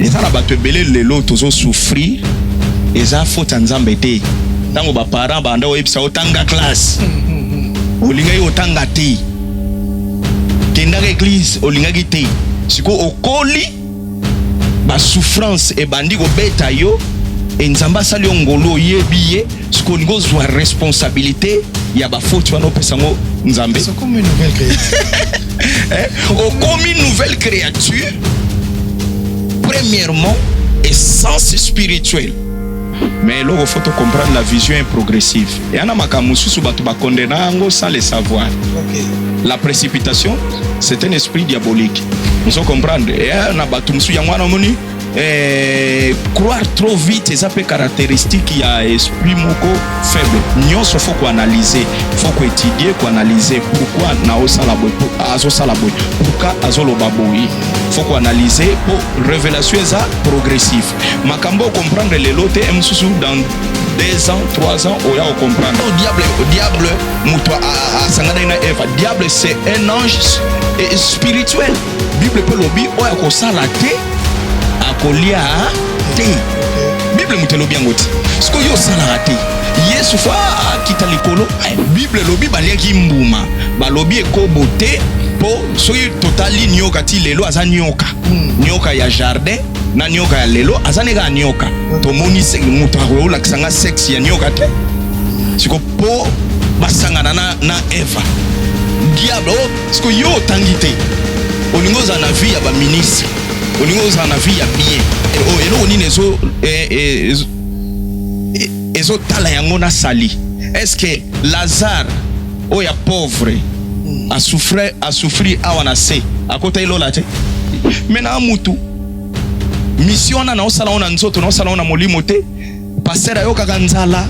Eza na bato ebele lelo tozo souffrir, eza faute ya Nzambe te. Tango ba parents banda oyebisa otanga classe, olingaki otanga te, kendaka eglise olingaki te, sikoyo okoli ba souffrance ebandi kobeta yo et Nzambe asali yo ngolu oyebi ye. siko olingi ozwa responsabilité ya bafoti wana opesa yango nzambe okomi nouvelle créature eh, premièrement essence spirituelle mais eloko faut comprendre la vision est progressive eya na makambo mosusu bato bakondena yango sans le savoir okay. la précipitation c'est un esprit diabolique ozo comprendre eya na bato mosusu yango wana omoni Eh, croire trop vite eza mpe caractéristique ya esprit moko faible nyonso faut koanalyse faut koétudie koanalyse pourquoi naosala boye azosala boye pourka azoloba boye faut koanalyse mpo révélation eza progressif makambo okomprendre lelo te mosusu dans 2 ans 3 ans oya okomprendre oh, diable oh, diable moto asanganaki na eva diable c'est un ange spirituel Bible mpe lobi oyo akosala te akolia te. Bible moto elobi yango te. Sikoyo yo osalaka te. Yesu fa akita likolo. Eh, Bible elobi baliaki mbuma, balobi ekobo te mpo soki totali nioka ti lelo aza nioka hmm. nioka ya jardin na nioka ya lelo aza ne kaka nioka hmm. tomoni moto akolakisa nga sexe ya nioka te siko mpo basangana na, na eva diable oh, Siko yo otangi te olingi ozala na vie ya ba ministre olingi ozala na vie ya bien oh, eloko nini ezo eh, eh, eh, ezotala yango na sali est-ce que lazare oyo ya pauvre asouffre asouffrir awa na se akotaki lola te me na mutu misio wana naosala ngo na nzoto naosala ngo na molimo te Pasteur ayokaka nzala,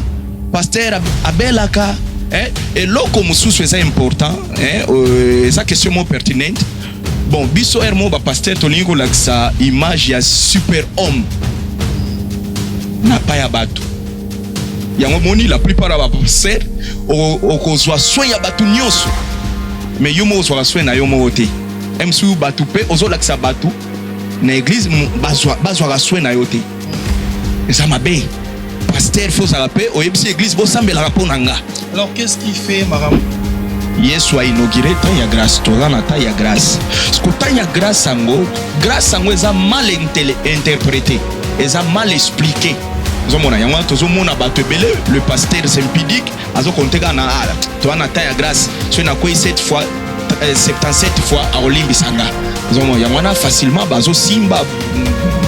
pasteur abelaka eh, eloko mosusu eza important eh, euh, eza question mo pertinente bon biso heure moko bapaster tolingi kolakisa image ya super homme na pa ya bato yango moni la plupart ya bapaster okozwa soin ya bato nyonso mais yo moko ozwaka soin na yo moko te msu bato mpe ozolakisa bato na eglise bazwaka soin na yo te eza mabe pasteur fo ozala mpe oyebisi eglise bosambelaka mpo na nga alors qu'est-ce qui fait makambo yesu ainaugure ntango ya grâce toza na ntango ya grâce siko ntango ya grâce yango grâce yango eza mal interprété eza mal expliqué ozomona yango wana tozomona bato ebele le pasteur sempidique azo compte kaka na ala toa na temps ya grâce soki nakwei 7 fois 77 euh, fois akolimbisa nga ozomona yango wana facilement bazosimba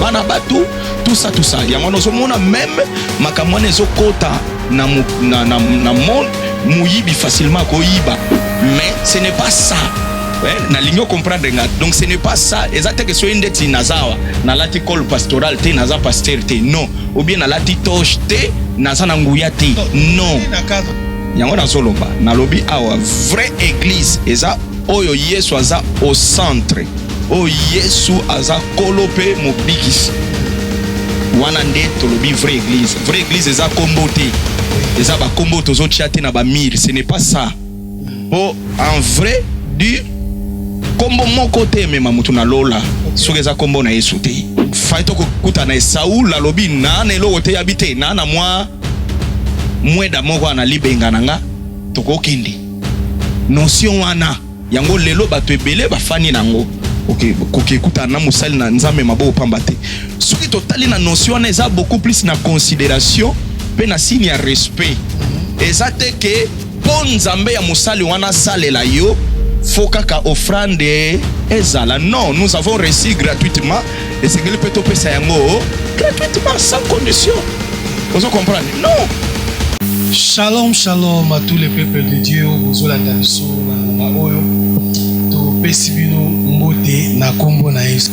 bana bato tusa tusa yango wana ozomona meme makambo wana ezokota na, na, na, na monde moyibi facilement akoyiba mais ce n'est pas ça eh, nalingi ocomprendre nga donc ce n'est pas ça eza teke soki ndeti nazawa nalati cole pastoral te naza pasteur te non ou bien nalati toche te naza na nguya te non yango nazoloba nalobi awa vraie église eza oyo yesu aza au centre oyo yesu aza kolo mpe mobikisi wana nde tolobi vraie église vraie église eza kombo te eza bakombo tozotya te na bamire ce n'est pas ça Po en vrai du kombo moko te emema mutu na lola soki eza kombo na Yesu te. Fai toko kuta na Saul alobi na na eloko te yabi te na na mwa mweda moko na libenga na nga toko kende. Notion wana yango lelo batu ebele ba fani na ngo. Ok ko ke kuta na mosali na Nzambe maboko pamba te. Soki to tali na notion wana eza beaucoup plus na consideration pe na signe ya respect. Eza te ke Po nzambe ya mosali wana asalela yo faut kaka offrande ezala non nous avons reçu gratuitement esengeli pe topesa yango gratuitement sans condition ozo comprendre non Shalom, shalom à tous les peuples de Dieu. Bozolanda biso na oyo topesi bino mbote na kombo na Yesu.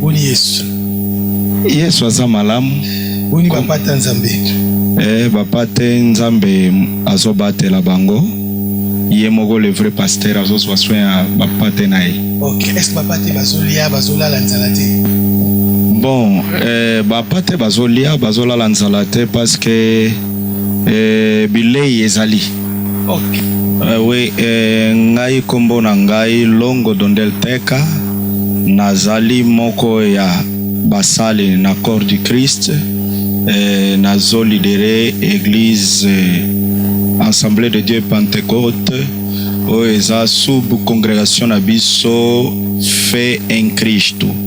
Boni Yesu. Yesu aza malamu. Boni papa ta Nzambe. Eh, papa te Nzambe azobatela bango. Ye moko le vrai pasteur azozwa soin ya papa te na ye. Ok, est-ce que papa te bazolia bazolala nzala te? Bon, eh, papa te bazolia bazolala nzala te parce que eh, bilei ezali. Euh, oui, eh, ngai kombo na ngai Longo Dondel Teka, nazali moko ya basali na Corps du Christ eh, nazo lidere Eglise eh, Assemblée de Dieu Pentecôte oyo eza sub congregation na biso fe en Cristo.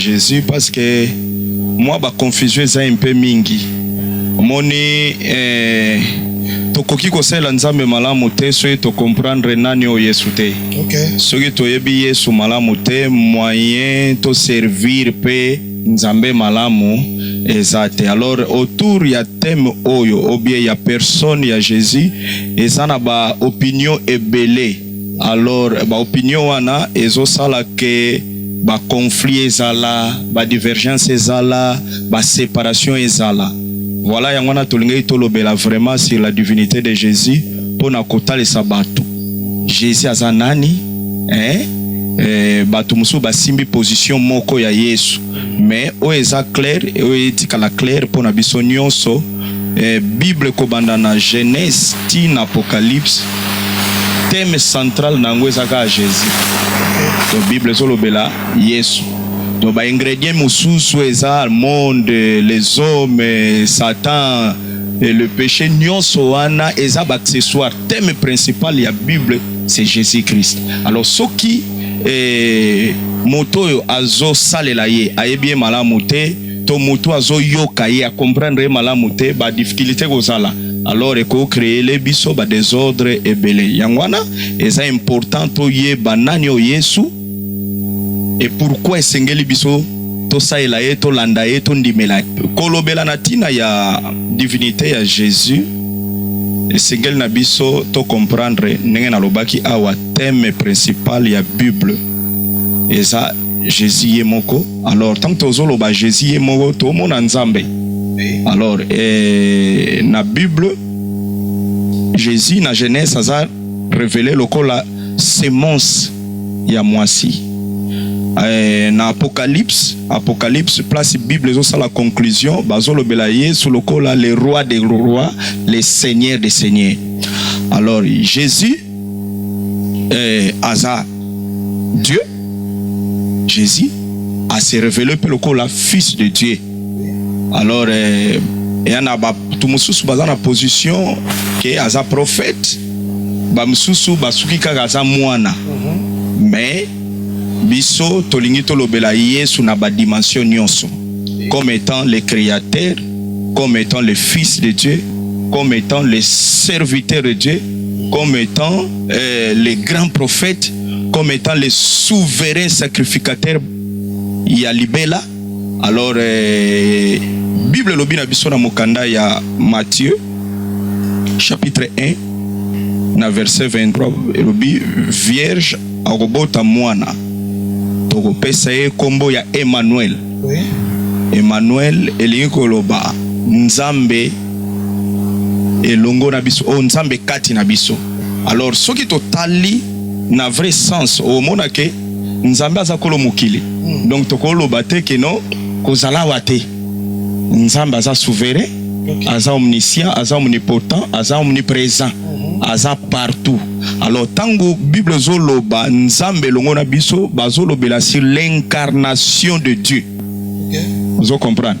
Jesus parce que mwa ba confusion eza un peu mingi omoni eh, tokoki kosalela nzambe malamu te soki tocomprendre nani oyo yesu te okay. soki toyebi yesu malamu te moyen toservir mpe nzambe malamu eza te alors autour ya thème oyo obie ya personne ya jésus eza na baopinion ebele Alors ba opinion wana ezo sala que ba conflits ezala, ba divergences ezala, ba separations ezala. Voilà yango wana tolingaki tolobela vraiment sur la divinite de Jesus pona kotalisa batu Jesus aza nani eh? Eh, bato mosusu basimbi position moko ya Yesu, mais oyo eza clair, oyo etikala clair mpo na biso nyonso Eh, Bible kobanda na Genese ti na Apocalypse, thème central na yango eza kaka Jesus. To Bible ezolobela Yesu. To ba ingredients mosusu eza monde, les hommes, Satan et le péché, nyonso wana eza ba accessoires. Thème principal ya Bible c'est Jésus-Christ. Alors soki eh, moto oyo azosalela ye ayebi ye malamu te to mutu azo yoka ye a comprendre ye malamu te ba difficultes ekozala alors eko creele biso ba desordre ebele yango wana eza important toyeba nani oyo Yesu et pourquoi esengeli biso tosalela ye tolanda ye tondimela kolobela na ntina ya divinité ya Jésus esengeli na biso to comprendre ndenge nalobaki awa thème principal ya Bible eza Jésus ye moko alors tant tozo loba Jesus ye moko to mona nzambe alors eh, na bible Jesus na Genèse aza révélé lokola semence ya mwasi eh, na apocalypse apocalypse place bible ezosala conclusion bazolobela yesu lokola le roi des rois le seigneur des seigneurs alors jésus eh, aza Dieu Jésus a se révélé mpe lokola fils de Dieu alors eh, eya na bato mosusu baza na position ke aza prophète bamosusu basuki kaka aza mwana mhm. mais biso tolingi tolobela yesu na badimension nyonso comme étant le créateur comme étant le fils de dieu comme étant le serviteur de dieu comme etant euh, le grand prophète, comme étant le souverain sacrificateur ya libela. Alors euh, Bible lobi na biso na mokanda ya Matthieu chapitre 1 na verset 23 elobi vierge akobota mwana tokopesa ye kombo ya Emmanuel. Oui. Emmanuel elingi koloba Nzambe elongo na biso oyo oh, Nzambe kati na biso. Alors soki totali na vrai sens omona ke Nzambe aza kolo mokili, hmm. donc tokoloba te ke no kozala wa te. Nzambe aza souverain, aza omniscient, aza omnipotent, aza omnipresent, hmm. aza partout. Alors tango Bible zoloba Nzambe elongo na biso bazolobela sur l'incarnation de Dieu. Okay. Vous comprenez?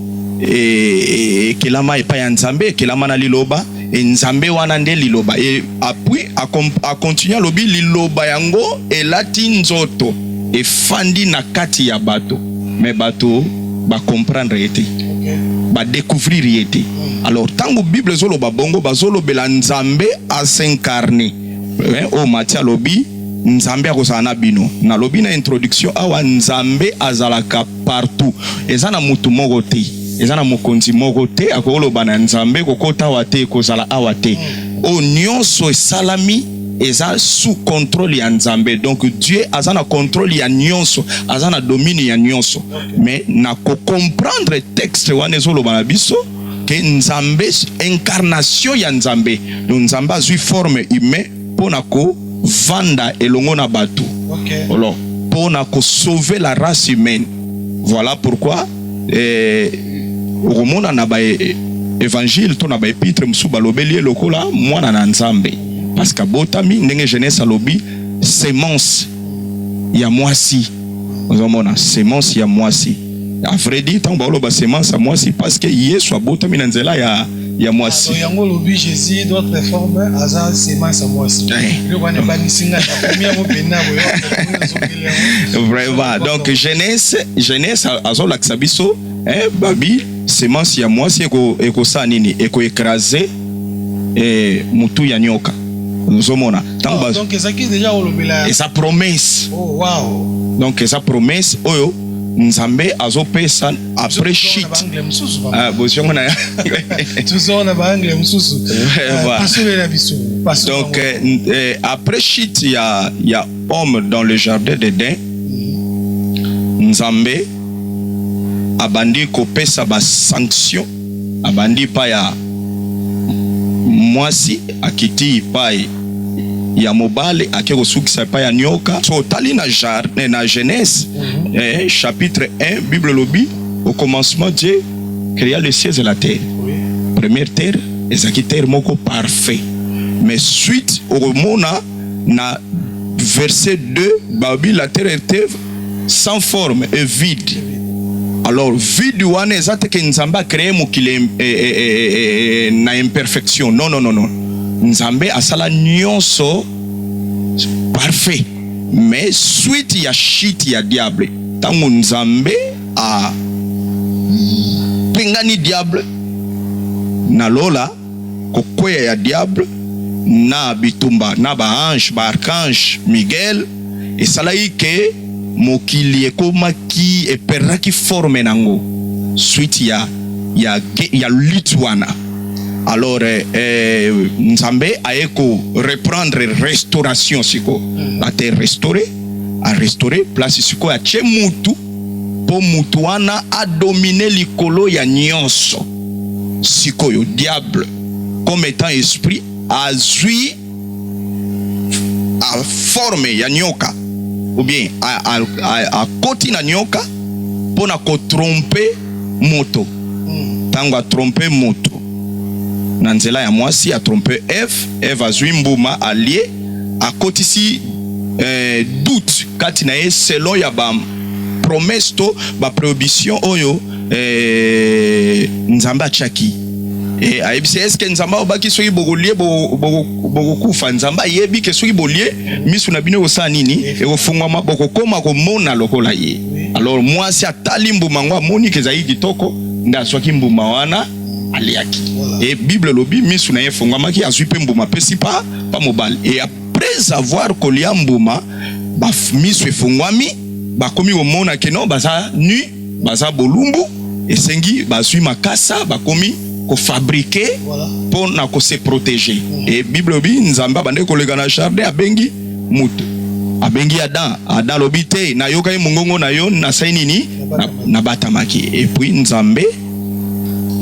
e, e, ekelama epai ya Nzambe, ekelama na Liloba. E, Nzambe wana nde Liloba. E, apui akontinue alobi, Liloba yango elati nzoto, efandi na kati ya bato, me bato bakomprendre ye te, badekuvrir ye te. Alors ntango Bible ezoloba bongo, bazolobela Nzambe asencarne eh, oyo Matia alobi nzambe akozala na bino nalobi na introduction awa nzambe azalaka partout eza na mutu moko te eza na mokonzi moko te akoloba na nzambe kokota awa te kozala awa te oyo nyonso esalami eza sous contrôle ya nzambe donc dieu aza na contrôle ya nyonso aza na domine ya nyonso mais na kocomprendre texte wana ezoloba na biso ke nzambe incarnation ya nzambe donc nzambe azwi forme humain mpo na kovanda elongo na bato okay. Alors, mpo na kosauve la race humaine voilà pourquoi eh, okomona na ba eh, évangile to na ba epitre mosusu balobeli ye lokola mwana na nzambe parce que abotami ndenge jeunesse alobi semence ya mwasi ozomona semence ya mwasi a vrai dit ntango baoloba semence ya mwasi parce que yesu abotami na nzela ya ya mwasi ah, yango olobi jésus d'autre forme aza semence ya mwasi eh. wana ebangisi ngai nakomi yango mpenza vraiment donc jeunesse jeunesse azolakisa biso eh, babi semence ya mwasi ekosala nini ekoekrase eh, mutu ya nyoka ozomona ntango oh, donc ezalaki deja kolobela eza promesse oh, wow. donc eza promesse oyo nzambe azopesa après shit ah, bozongo na tozongo na baangle mosusu pasolela biso donc euh, euh, après shit ya ya homme dans le jardin d'eden mm-hmm. nzambe abandi kopesa basanction abandi epai ya mwasi, akiti epai ya mobali, ake kosukisa epai ya nyoka. So otali na, eh, na Genèse mhm. eh, chapitre 1 Bible elobi au commencement Dieu créa les cieux et la terre. Première terre ezalaki terre moko parfait, mais suite okomona na verset 2 babi la terre était sans forme et vide alors vide wana eza te ke nzambe acree mokili eh, eh, eh, na imperfection non, non, non, non. nzambe asala nyonso parfait mais suite ya shit ya diable ntango nzambe apengani diable na lola kokweya ya Diable na bitumba na ba anges, ba archanges, Miguel, esalaki que mokili ekomaki, e perdraki forme n'ango suite ya ya ya lutte wana. Alors eh, Nzambe aye ko reprendre restauration sikoyo, ate restaurer, a restaurer place sikoyo atie mutu mpo moto wana adomine likolo ya nyonso. Sikoyo diable comme etant esprit azwi a forme ya nyoka ou bien akoti na nyoka mpo na kotrompe moto. Ntango atrompe moto na nzela ya mwasi, atrompe Eve, Eve azwi mbuma alie. akotisi eh, doute kati na ye selon ya ba promesse to ba prohibition oyo eh, Nzambe atiaki e, ayebisi eske Nzambe abaki soki bokolie bokokufa. Nzambe ayebi ke soki bolie misu na bino ekosala nini, ekofungwama, bokokoma komona lokola ye. Alors mwasi atali mbuma yango, amoni ke ezali kitoko, nde azwaki mbuma wana. aliaki e bible elobi misu na ye efongamaki azwi mpe mbuma apesi pa pa mobali e après avoir kolia mbuma ba misu efongwami bakomi komona keno baza nu baza bolumbu esengi bazwi makasa bakomi kofabrike mpo na kose proteger e bible elobi nzambe abandaki koleka na jardin abengi moto abengi Adam. Adam alobi te, nayokaki mongongo na yo, nasali nini? Nabatamaki. Epuis Nzambe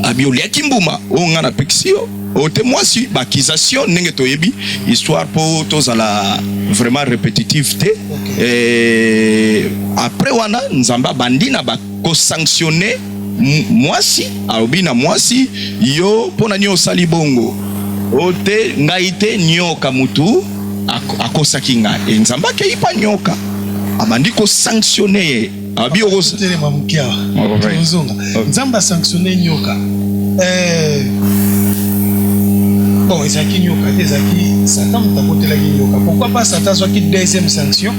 abi oliaki mbuma oyo ngai napekisi yo oyo te mwasi baakisation ndenge toyebi histoire mpo tozala vraiment répétitive te eh, après wana nzambe abandi na bakosanctionne mwasi alobi na mwasi yo mpo na nini osali bongo oyo te ngai te nyoka motu akosaki ngai e nzambe akei mpa nyoka abandi kosanctionne ye Abi oko telema mukia. Ozonga. Nzamba sanctionner nyoka. Eh. Bon, ezaki nyoka, ezaki Satan mutakotela ki nyoka. Pourquoi pas Satan soit ki deuxième sanction?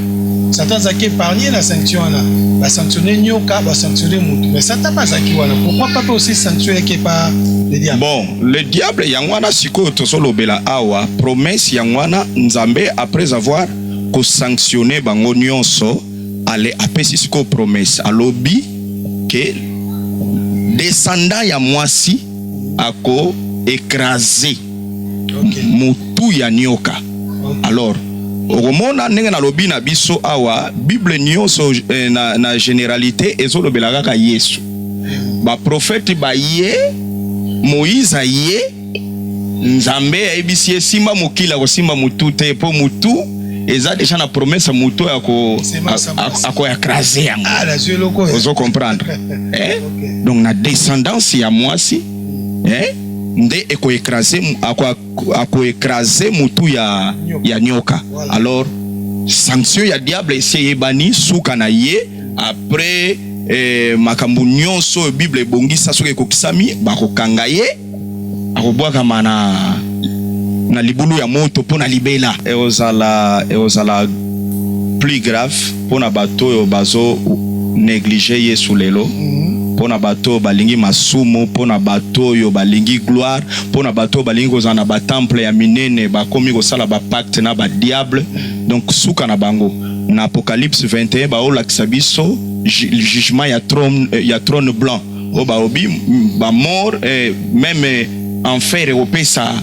Satan azaki épargné la sanction wana. Ba sanctionner nyoka, ba sanctionner mutu. Mais Satan pas azaki wana. Pourquoi pas aussi sanction yake pas le diable? Bon, le diable yango wana sikoyo tozo lobela awa promesse yango wana Nzambe après avoir ko sanctionner bango nionso ale apesi sikoyo promesse alobi ke descendant ya mwasi ako ekrase okay. mutu ya nioka okay. alors okomona ndenge nalobi na biso awa bible nyonso eh, na, na generalite ezolobela kaka yesu baprofete baye moïse aye Nzambe ayebisi ye simba mokili akosimba mutu te po mutu eza deja na promesse mutu oyo ako ako écraser yango. Ah, Ozo comprendre? Eh? Donc na descendance ya mwasi eh nde eko écraser ako ako écraser mutu ya ya nyoka. Alors sanction ya diable esi eyebani suka na ye après eh, makambo nyonso oyo Bible ebongisa soki ekokisami bakokanga ye. akobwakama na, na libulu ya moto mpo na libela. Ekozala, ekozala plus grave mpo na bato oyo bazo negliger Yesu lelo, mpo na bato oyo balingi masumu, mpo na bato oyo balingi gloire, mpo na bato oyo balingi kozala na batemple ya minene, bakomi kosala bapacte na badiable. Donc suka na bango na Apocalypse 21 baolakisa biso jugement ya trone, ya trone blanc. o baobi ba mort eh, meme enfer ekopesa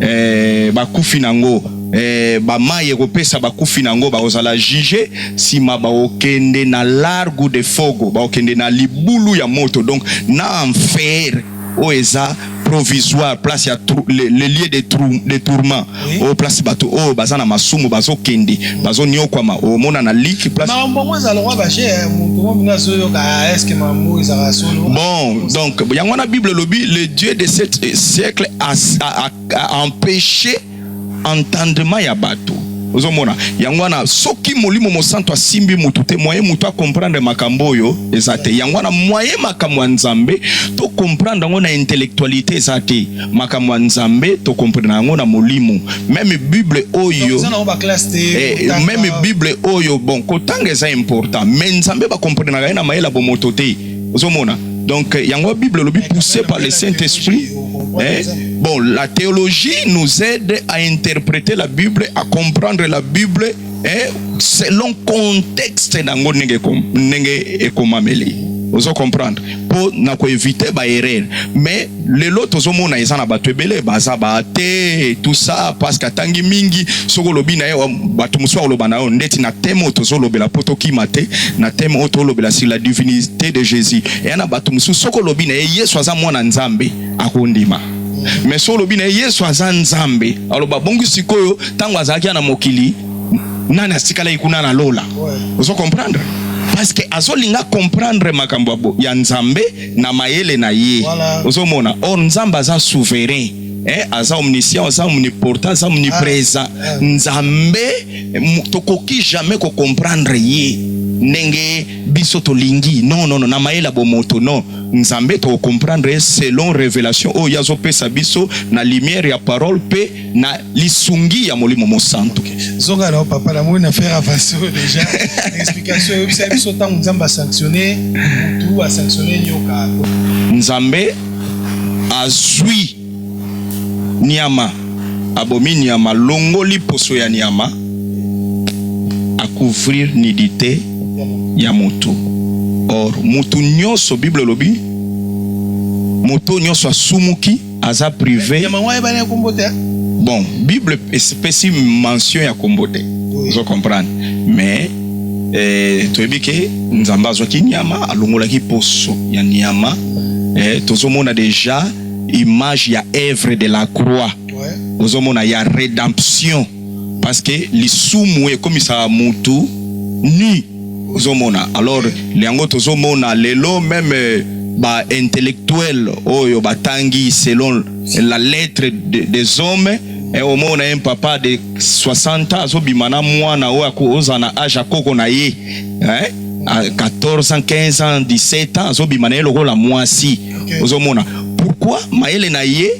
eh, bakufi nango eh, bamai ekopesa bakufi nango bakozala juge nsima bakokende na largo de fogo bakokende na libulu ya moto donc na enfer oyo eza provisoire place ya le, le lieu de, trou, de tourment oui. oyo oh, place bato oyo oh, baza na masumu bazokende bazoniokwama omona oh, na liki place bon donc yango wana bible elobi le dieu de ce siècle a, a, a, a empêché entendement ya bato ozomona yango wana soki molimo mosantu asimbi motu te moye motu akomprendre makambo oyo eza te yango wana moye makambo ya nzambe tokomprendre yango na intellectualité eza te makambo ya nzambe tokomprendre yango na molimo meme bible oyo eh, meme bible oyo bon kotanga eza important me nzambe bakomprenaka ye na mayela bomoto te ozomona donc yango bible olobi poussé par le saint esprit eh? bon la théologie nous aide à interpréter la bible à comprendre la bible eh? selon contexte nango ndenge ndenge ekomameli ozo comprendre mpo na koevite baerreur mais lelo tozomona eza na bato ebele baza baate tout ça parce que atangi mingi soki olobi na ye bato mosusu akoloba na yo ndeti na teme oyo tozolobela mpo tokima te na teme oyo tolobela sur la divinité de jésus eya na bato mosusu soki olobi na ye yesu aza mwana nzambe akondima mais soki olobi na ye yesu aza nzambe aloba bongi sikoyo ntango azalaki na mokili nani atikalaki kuna na lola ozo comprendre parce que azolinga comprendre makambo ya nzambe na mayele na ye voilà. ozomona or nzambe aza souverain eh, aza omniscient aza omniportant aza omnipresent ah, eh. nzambe tokoki jamais kocomprendre ye ndenge biso tolingi non non non na mayele ya bomoto non nzambe tokocomprendre ye selon révélation oyo ye azopesa biso na lumière ya parole mpe na lisungi ya molimo mosantu zonga na papa na moni na faire avance oyo deja explication eyebisa biso ntango nzambe asanctionne mutu asanctionne nyoka nzambe azwi nyama abomi nyama longoli poso ya nyama akouvrir nidite ya motu or motu nyonso bible elobi moto nyonso asumuki aza prive nyama yango ayebani ya kombo te bon bible epesi mention ya kombo te ozo comprendre mais eh, toyebi ke nzambe azwaki nyama alongolaki poso ya nyama eh, tozomona deja image ya œuvre de la croix ozomona ya rédemption parce que lisumu ekomisaka mutu nu Ozomona alors yango tozomona lelo meme euh, ba intellectuel oyo batangi selon la lettre de, des hommes eh, omona un papa de 60 ans azobima na mwana oyo akoza na age ya koko na ye eh? 14 ans 15 ans 17 ans azobima na ye lokola mwasi okay. ozomona pourquoi mayele na ye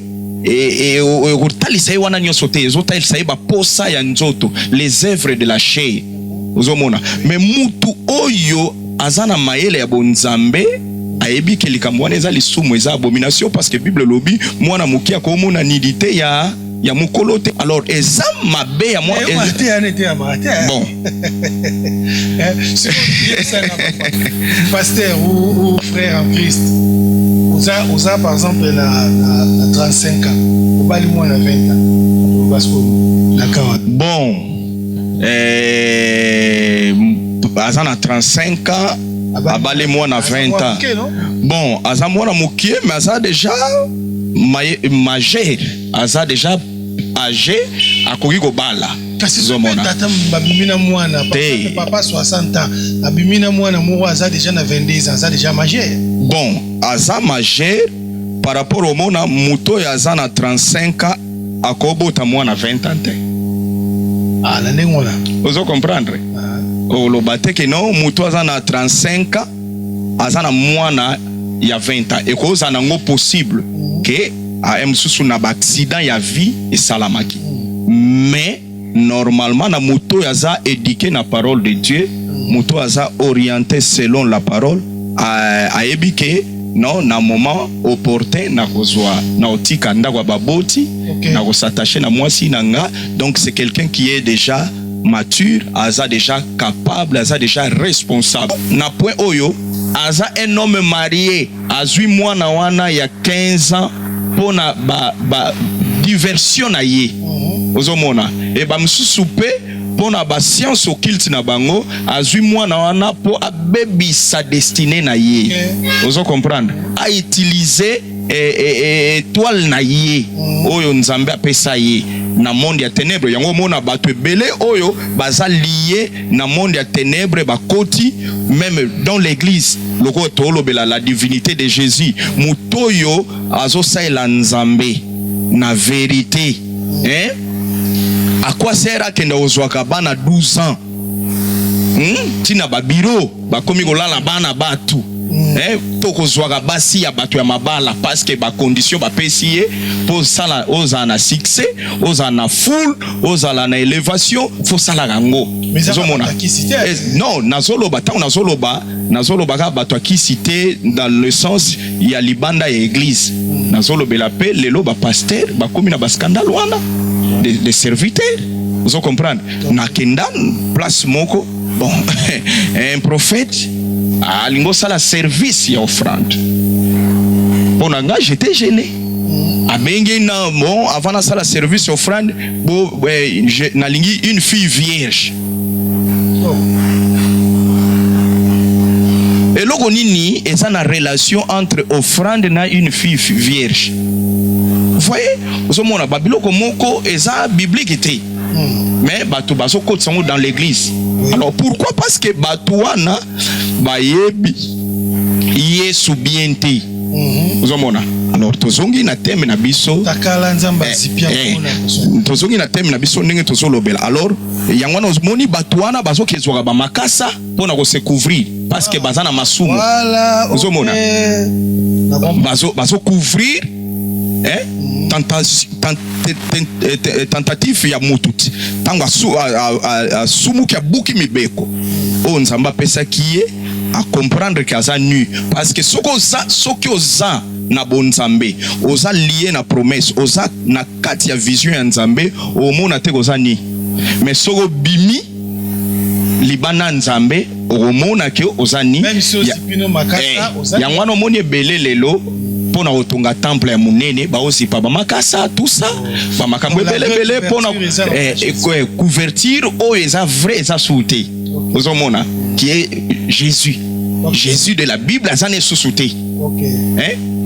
ekotalisa e, e, ye wana nyonso te ezotalisa ye baposa ya nzoto les œuvres de la chair Ozomona? Me mutu oyo aza na mayele ya bonzambe ayebi ke likambo wana eza lisumu, eza abomination, parce que Bible elobi mwana moke akomona nidite ya ya mokolo te. Alors eza mabe ya mwa eh, eh. bon pasteur ou, ou frère en Christ oza oza par exemple na, na, na 35 ans obali mwana 20 ans parce que na kawa bon eh, aza na 35 ans abali mwana 20 ans bon aza mwana mokie mais aza deja majeur aza deja age akoki kobala tata babimi na mwana papa 60 ans abimi na mwana moko aza deja na 22 ans aza deja majeur bon aza majeur par rapport omona moto oyo aza na 35 ans akobota mwana 20 ans te ah, na ndenge wana ozo comprendre ah. oloba te ke no motu aza na 35 ans aza na mwana ya 20 ans ekozala nango possible ke ah, mosusu na baaccident ya vie esalamaki mais normalement na moto oyo aza eduque na parole de Dieu, moto aza oriente selon la parole, ayebi ke non na moment opportun na kozwa na otika ndako ya baboti okay. na kosatache na mwasi na nga donc c'est quelqu'un qui est déjà mature aza déjà capable aza déjà responsable na point oyo aza un homme marié azui mwana wana ya 15 ans pona ba, ba diversion na ye mhm. ozomona e ba mosusu mpe mpo na ba science occulte na bango azui mwana wana mpo abebisa destine na ye mhm. ozo comprendre a utiliser eh, eh, eh, etoile na ye mhm. oyo nzambe apesa ye na monde ya tenebre yango omona bato ebele oyo baza liye na monde ya tenèbres bakoti meme dans l'église lokola tolobela la divinité de Jésus moto oyo azosalela Nzambe na verite hein? à quoi sert akenda kozwaka bana 12 ans hmm? tina ba bureau bakomi kolala bana batu mm. eh, to kozwaka basi ya bato ya mabala paske bakondition bapesi ye mpo osala ozala na succès ozala na foule ozala na elevation fosalaka yango ozomona eh, non nazoloba ntango nazoloba nazolobaka bato ya kisi te dans le sens ya libanda ya eglise mm. nazolobela mpe lelo bapaster bakomi na baskandale wana de, de serviteur ozo comprendre nakenda place moko Bon, un prophète alingi osala service ya offrande mpo na ngai j'étais gêné abengi na bon avant nasala service ya offrande bo eh, je- nalingi une fille vierge eloko nini eza na relation entre offrande na une fille vierge voye ozomona babiloko moko eza biblike te hmm. mais bato bazokotisa yango dans l'église alors pourquoi parce que bato wana bayebi yesu bien te hmm. ozomona mm -hmm. alors tozongi na teme na biso eh, eh, tozongi na teme na biso ndenge tozolobela alors yango wana omoni bato wana bazokezwaka bamakasa mpo na kosecouvrir parce que baza na masumu ozomona bazocouvrir eh? tentative ya moto ntango asumuki abuki mibeko oyo nzambe apesaki ye akomprendre ke aza nu parce que soki oza soki oza na bonzambe oza lie na promesse oza na kati ya vision ya nzambe omona te koza ni mais soki obimi libanda nzambe okomona ke oza ni eh, yango wana omoni ebele lelo mpo na kotonga temple ya monene baozipa bamakasa tusa bamakambo ebelebele mpo na eh, eh, eh, couverture oyo eza vrai eza suu te ozomona qui est jésus jésus de la bible aza na esusu te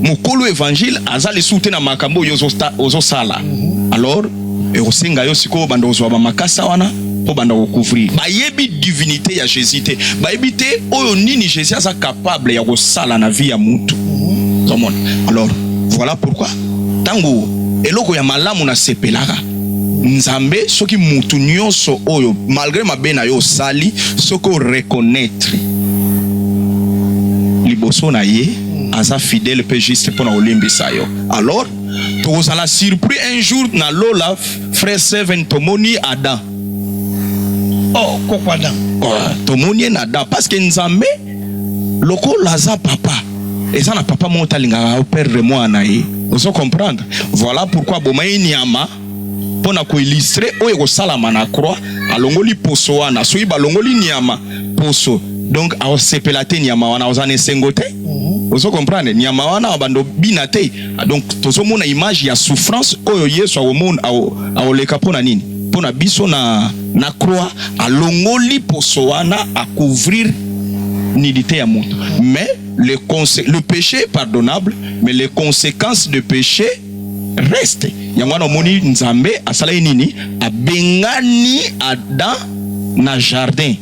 mokolo evangile aza lisusu te na makambo oyo ozosala mhm. alors ekosenga yo sikoyo obanda kozwa bamakasa wana obanda kocouvrir. Bayebi divinité ya Jésus te, bayebi te oyo nini Jésus aza capable ya kosala na vie ya mutu. Komona? Alors voilà pourquoi tango eloko ya malamu na sepelaka Nzambe soki mutu nyonso oyo malgré mabe na yo osali soki o reconnaître liboso na ye aza fidèle pe juste pona kolimbisa yo alors tokozala surpris un jour na lola frère seven tomoni adam oh koko adam oh, tomoni ye na adam parce que nzambe lokola aza papa eza na papa moko talingaka perdre mwana ye ozo comprendre voilà pourquoi aboma ye nyama mpo na koilustre oyo ekosalama na croix, alongoli poso wana. Soki balongoli nyama poso, donc aosepela te nyama wana, oza na esengo te. Mhm. Ozo comprendre nyama wana abando bina te. Donc tozomona image ya souffrance oyo Yesu aomona aoleka mpo na nini? Mpo na biso na, na croix alongoli poso wana akouvrir nudité ya moto mais le, le péché est pardonnable mais les conséquences de péché reste yango wana omoni nzambe asalaki nini abengani adam na jardin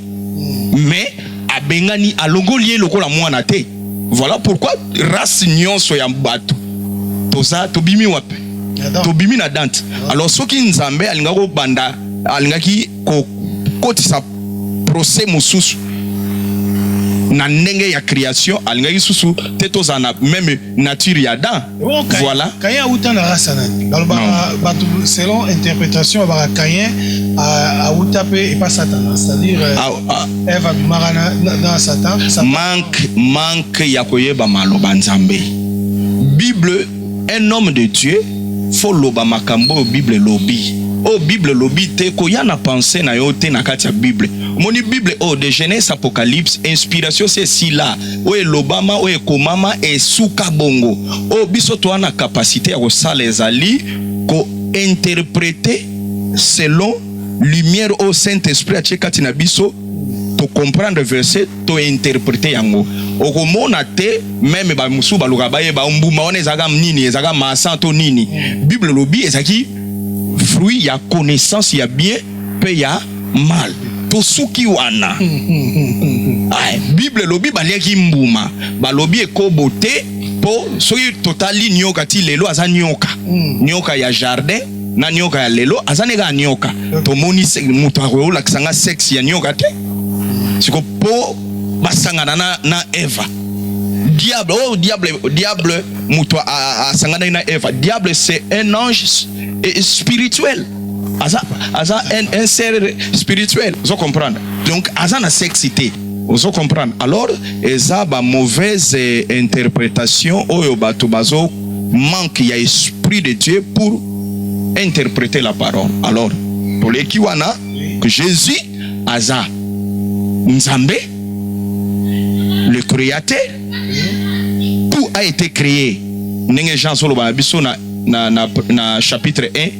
mais abengani alongoli ye lokola mwana te voilà pourquoi race nyonso ya bato toza tobimi wapi tobimi na dante alors soki nzambe alingaki kobanda alingaki kokotisa procès mosusu na ndenge ya création alingaki susu te tozala na meme nature ya adam Oh, Caïn. Voilà. Caïn awuta na rasa nani balobaka bato selon interprétation babaka Caïn a- awuta mpe epa satana c'est-à-dire euh, Ah, ah, eve abimaka na, na, na satan Satan- manque manque ya koyeba maloba nzambe bible un homme de dieu fo loba makambo oyo bible elobi oyo bible elobi te koya na pense na yo te na kati ya bible omoni bible oyo de genèse apocalypse inspiration se esila oyo elobama oyo ekomama esuka bongo oyo oh, biso toa na kapasite ya kosala ezali kointerprete selon lumière oyo saint esprit atie kati na biso tocomprendre verset tointerprete yango okomona te meme bamosusu baloka bayeba mbuma wana ezalaka nini ezalaka masa to nini bible elobi ezalaki fruit ya connaissance ya bien pe ya mal tosuki wana Ay, bible elobi baliaki mbuma balobi ekobo te po soki totali nioka ti lelo aza nioka nioka ya jardin na nioka ya lelo aza ne kaka nioka tomoni se- moto akolakisa nga sexe ya nioka te siko po basangana na, na eva diable oh diable diable moto a- a- asanganaki na eva diable c'est un ange s- eh, spirituel aza aza un ser spirituel ozo comprendre donc aza na sexe te ozo comprendre alors eza ba mauvaise interpretation oyo bato bazo manque ya esprit de Dieu pour interpréter la parole alors toleki wana que Jésus aza Nzambe le créateur tout a été créé ndenge Jean azoloba na biso na, na, na, na chapitre 1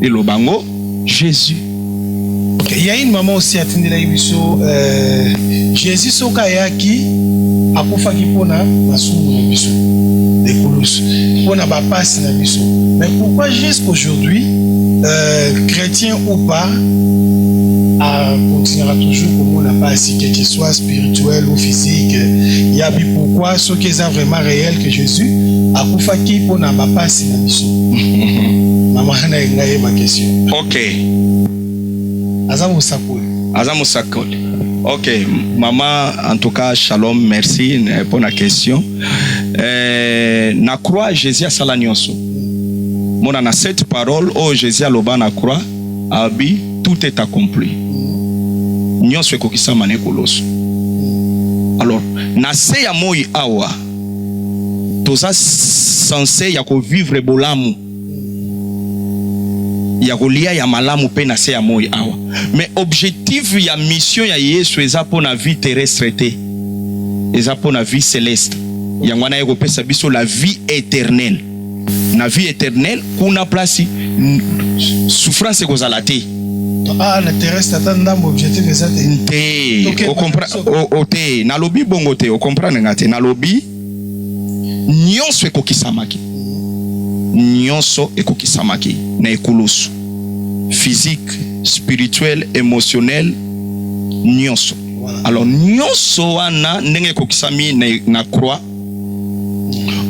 eloba ngo Jesus. Okay, ya une maman aussi atindelaki biso euh, Jesus soki ayaki akufaki mpo na masumu na biso ekulusu mpo na bapasi na biso mais pourquoi jusqu'aujourd'hui euh, chrétien ou pas akontinuaka toujours komona pasi que qu'il soit spirituel ou physique yabi pourquoi soki eza vraiment réel que jésus akufaki mpo na bapasi na biso mama na ye ngai yeba question ok aza mosakoli aza mosakoli ok mama en tout cas shalom merci mpo na question eh, na croix jésus asala nyonso mona na cette parole oyo oh, jésus aloba na croix abi tout est accompli nyonso ekokisama na ekoloso alors na se ya moi awa toza sense ya kovivre bolamu ya kolia ya malamu mpe na se ya moi awa me objectif ya mission ya yesu eza mpo na vie terrestre te eza mpo na vie celeste yango wana ye kopesa biso la vie eternelle na vie eternel kuna place souffrance ekozala te ah, te o te nalobi bongo te okomprendre nga te nalobi nyonso ekokisamaki nyonso ekokisamaki na ekulusu physique spirituel émotionnel nyonso alors nyonso wana ndenge ekokisami na, na croix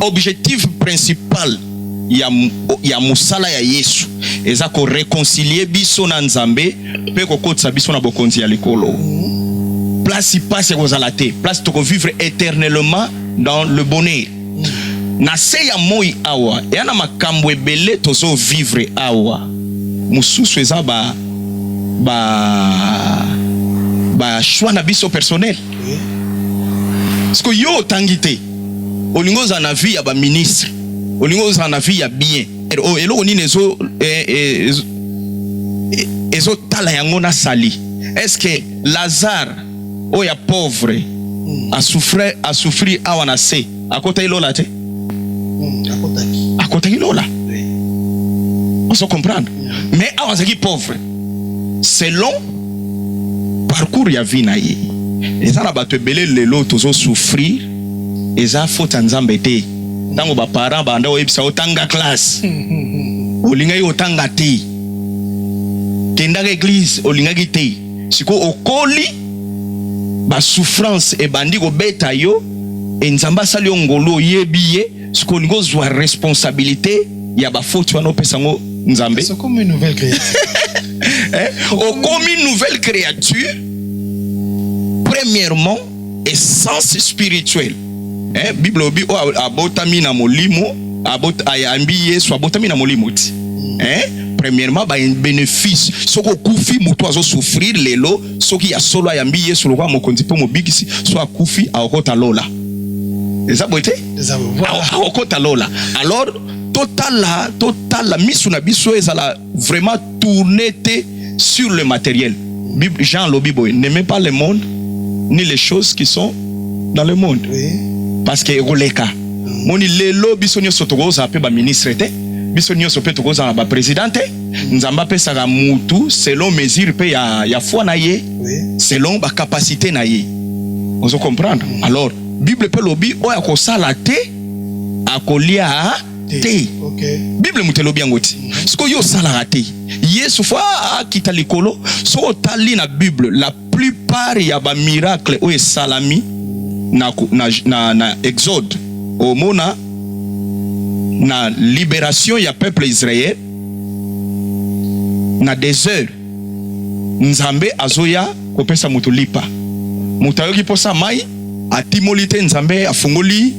objectif principal ya, ya musala ya Yesu eza ko reconcilier biso na Nzambe pe kokotisa biso na bokonzi ya likolo place pasi ekozala te place toko vivre éternellement dans le bonheur na se ya moi awa eya na makambo ebele tozo vivre awa mosusu eza ba ba ba choix na biso personnel Siko yo otangi te, olingi ozala na vie ya ba ministre, olingi ozala na vie ya bien. Oh, eloko nini ezo eh, eh, eh, ezo tala yango na sali? Est-ce que Lazare oyo ya pauvre a souffrir a souffrir awa na se akotaki lola te hmm, akotaki lola ozo comprendre hmm. mais awa azalaki pauvre selon parcours ya vie na ye eza na bato ebele lelo tozo souffrir eza faute ya nzambe te ntango baparent banda oyebisa otanga classe hmm, olingaki otanga te kendaka eglize olingaki te siko okoli ba souffrance ebandi kobeta yo e nzambe asali yo ngolu oyebi ye siko olingi ozwa responsabilité ya bafoti wana opesa yango nzambe okomi nouvelle créature eh, okomi nouvelle créature premièrement essence spirituelle eh, bible obi oyo oh, abotami na molimo ayambi ah, yesu abotami na molimo ti eh? premièrement bénéfice soki okufi moto azosouffrir lelo soki ya solo ayambi yesu lokola mokonzi mpe mobikisi so akufi akokota lola eza boye te akokota lola alors totala totala misu na biso ezala Vraiment tourner te sur le materiel. Jean alobi boye, n'aimez pas le monde ni les choses qui sont dans le monde. Parce que ekoleka. Moni lelo biso nyoso tokozala pe ba ministre te. Biso nyoso pe tokozala ba president te. Nzambe apesaka mutu selon mesure pe ya ya foi na ye, selon ba capacité na ye. Ozo comprendre? Alors, Bible pe lobi oyo akosala te akolia te bible moto elobi yango ti sikoyo yo osalaka te yesu fo akita likolo soki otali na bible la plupart ya bamiracle oyo esalami na, na, na, na exode omona na liberation ya peuple israel na desert Nzambe azoya kopesa moto lipa. Moto ayoki posa mai, atimoli te, Nzambe afungoli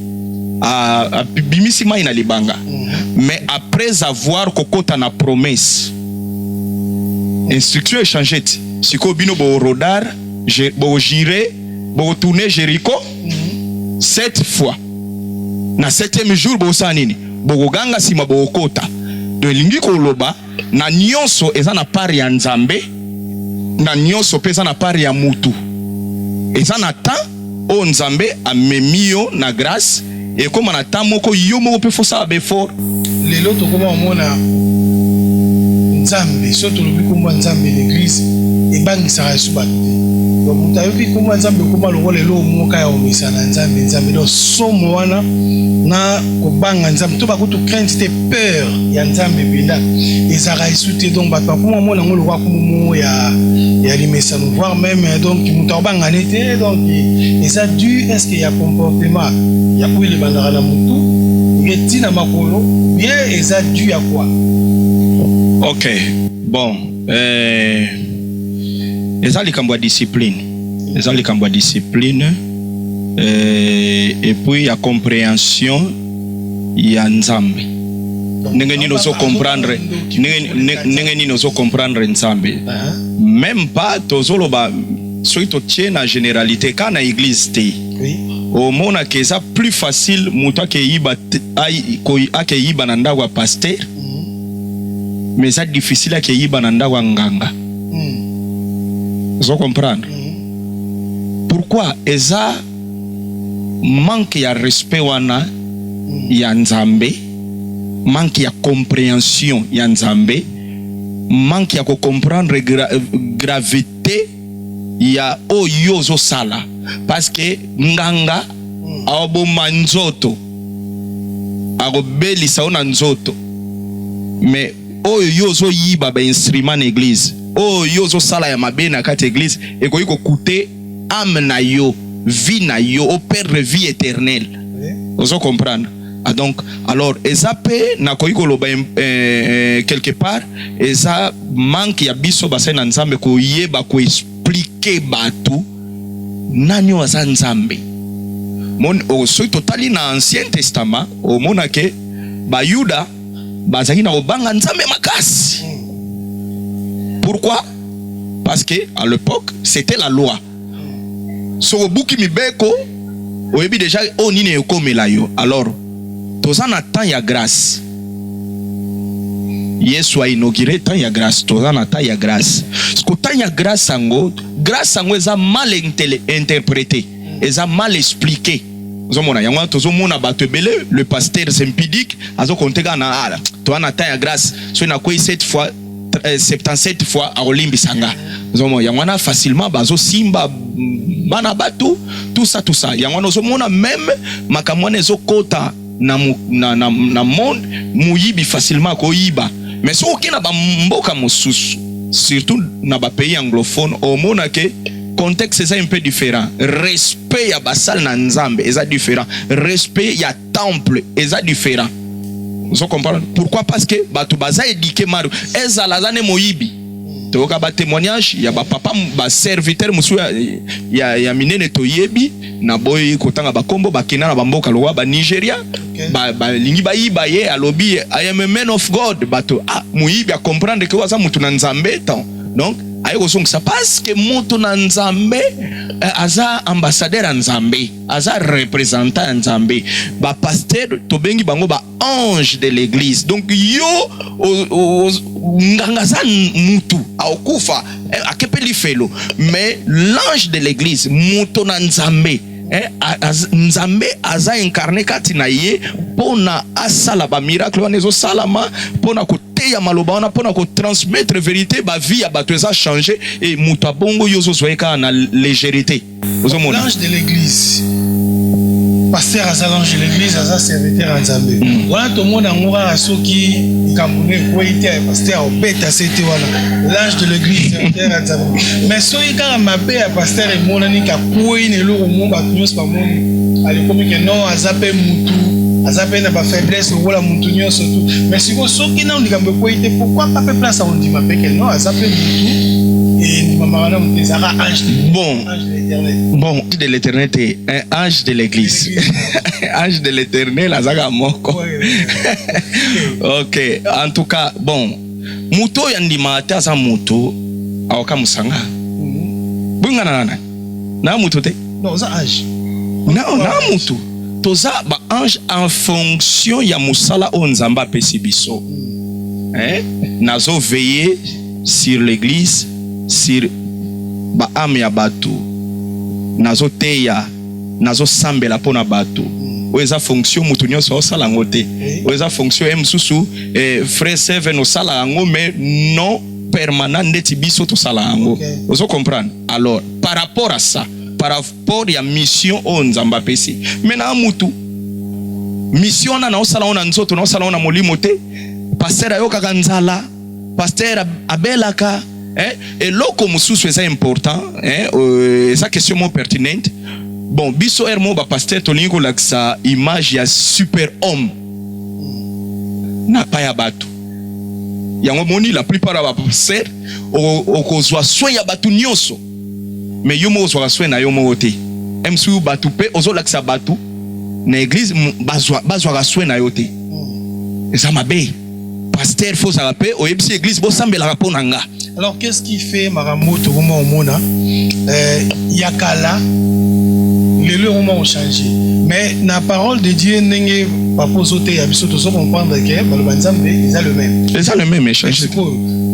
abimisi mai na libanga. Mm-hmm. Mais après avoir kokota na promesse, instruction echange ti sikoyo bino borodar bojire bokotourne Jericho mm-hmm. sept fois na septième jour bosala nini? Bokoganga nsima bokokota. Donc elingi koloba na nionso eza na part ya Nzambe na nionso pe eza na part ya mutu. Eza na temps oyo Nzambe amemi yo na grace ekoma na temps moko yo moko pe faut sala befort. Lelo tokoma omona Nzambe so tolobi kombo ya Nzambe l'eglise ebangisaka yesu bato te. Donc moto ayoki kombo ya Nzambe ekoma lokola eloko moko kaka ya komesana Nzambe Nzambe. Donc somo wana na kobanga Nzambe to bakutu crainte te. peur ya nzambe mpenza ezalaka esu te donc bato bakoma mona yango lokola kumu moko ya, ya limesano voire même euh, donc moto akobangane te donc eza du est-ce que ya comportement ya oyo libandaka na motu ye ntina makolo ye eza du ya kwa ok bon euh, eza likambo ya discipline eza likambo ya discipline euh, et puis ya comprehension ya Nzambe. Ndenge nini ozo comprendre ndenge nini ozo comprendre Nzambe? Meme pas tozoloba soki totie na generalite ka na eglise te omonaka eza plus facile moto akeyiba akeyiba na ndako ya paster mm. mais eza difficile akeyiba na ndako ya nganga mm. ozo comprendre mm. pourquoi eza manque ya respect wana ya Nzambe, manque ya comprehension ya Nzambe, manque ya ko comprendre gra gravite ya oyo ozo sala parce que nganga aoboma nzoto akobelisa yo na nzoto mais oyo yo ozoyiba ba instrument na eglise oyo yo ozosala ya mabe na kati ya eglise ekoki kokute ame na yo vie na yo o perdre vie eternelle ozo comprendre ah donc alors eza mpe nakoki koloba eh, eh, quelque part eza manque ya biso basali na nzambe koyeba koexplike bato nani oyo aza nzambe oh, soki totali na ancien testament omonake bayuda bazali na kobanga Nzambe makasi. Pourquoi? Parce que à l'époque, c'était la loi. Soki obuki mibeko, oyebi deja oyo oh, nini ekomela yo. Alors, toza na temps ya grâce. Yesu a inauguré temps ya grâce, toza na temps ya grâce. Siko temps ya grâce yango, grâce yango eza mal interprété, eza mal expliqué. Ozomona yango wana, tozomona bato ebele, le pasteur Zempidic azokonte kaka na ala ah, toa na temps ya grace, soki nakwei 7 fois 77 euh, fois akolimbisa nga. Ozomona yango wana facilement bazosimba bana bato tout ça tout ça, yango wana ozomona meme makambo wana ezokota na, na, na, na monde moyibi facilement akoyiba mais soki oke na bamboka mosusu surtout na bapays anglophone omona ke contexte eza un peu différent respect ya basale na nzambe eza différent respect ya temple eza différent ozo comprendre pourquoi parce que bato baza éduqué mario ezala aza nde moyibi toyoka ba témoignage ya ba papa ba serviteur musu ya, ya, ya minene toyebi na boyi kotanga bakombo bakenda na bamboka lokola ba Nigeria balingi ba bayiba ye alobi I am a man of God bato ah, moyibi akomprendre ke aza motu na nzambe tan donc aye kozongisa paske motu na nzambe eh, aza ambassadeur ya nzambe aza representant ya nzambe bapaster tobengi bango ba ange de l'eglise donc yo nganga aza mutu aokufa eh, akepe lifelo mais l'ange de l'église moto na nzambe eh, nzambe aza incarne kati na ye mpo na asala bamiracle wana ezosalama mpo na koteya maloba wana mpo na kotransmettre verité bavie ya bato eza change e moto abongo yo ozozwa ye kaka na legerite ozomona l'ange de l'église pasteur aza l'ange de l'église aza serviteur ya nzambe mm. wana tomona yango kaka soki likambo no ekwei te pasteur obeta se te wana l'ange de l'église serviteur ya nzambe mais soki kaka mabe ya pasteur emonani kakwei na eloko mo bato nyonso bamoni alikomi ke non aza mpe mutu aza mpe na bafaiblesse lokola mutu nyonso tu mais sikoyo soki nano likambo ekwei te pourkui pa mpe place akondima mpe ke non aza mpe mutu endimamaka na moto ezalaka Bon, bon, de l'éternel te, un ange de l'église. ange de l'éternel azaka moko. ok, en tout cas, bon, moto oyo andima ate aza moto aoka mosanga. Mhm. Bongana nana. Na moto te. Non, oza ange. Na na moto. Toza ba ange en fonction ya mosala oyo Nzambe apesi biso. Mhm. Eh? Nazo veiller sur l'eglise sur ba ame ya batu nazo teya nazo sambela pona batu oyo eza fonction mutu nyonso osala yango te oyo eza fonction ye mosusu eh, frais seven osala yango mais non permanent ndeti biso tosala yango okay. ozo comprendre alors par rapport à ça par rapport ya mission oyo nzambe apesi me na mutu mission wana naosala yango na nzoto naosala yango na molimo te paster ayokaka nzala Pasteur abelaka eh, eloko mosusu eza important eh, euh, eza question mo pertinente bon biso heure moko bapaster tolingi kolakisa image ya super homme na pa ya bato yango moni la plupart ya bapaster okozwa soin ya bato nyonso me yo moko ozwaka soin na yo moko te msu bato mpe ozolakisa bato na eglize bazwaka soin na yo te eza mabe pasteur faut zala pe oyebisi église bo sambelaka po na nga alors qu'est-ce qui fait makambo tokoma omona euh, ya kala lelo ekoma ochange mais na parole de dieu ndenge papa ozoteya biso tozo comprendre ke baloba nzambe eza le même eza le même echange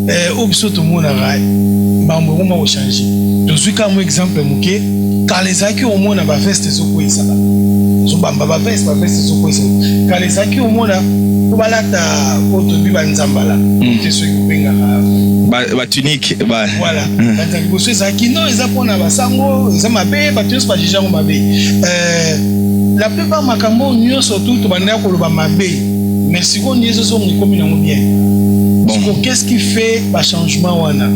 eh, oyo biso tomonaka mbambo ekoma kochange tozwi kaka mwa exemple moke kala ezalaki omona baveste ezokweyisaka zobamba baveste baveste ezokweyisa kala ezalaki omona po balata oyo tobi banzambala hmm. te soki kobengaka batunike voilà banzala liboso ezalaki no eza mpona basango eza mabe bato nyonso bajije yango mabe eh, la plupart makambo nyonso tu tobandaki koloba mabe mais sikoyo nde ezozonga ekomi nango bien siko qu'est-ce qui fait bachangement wana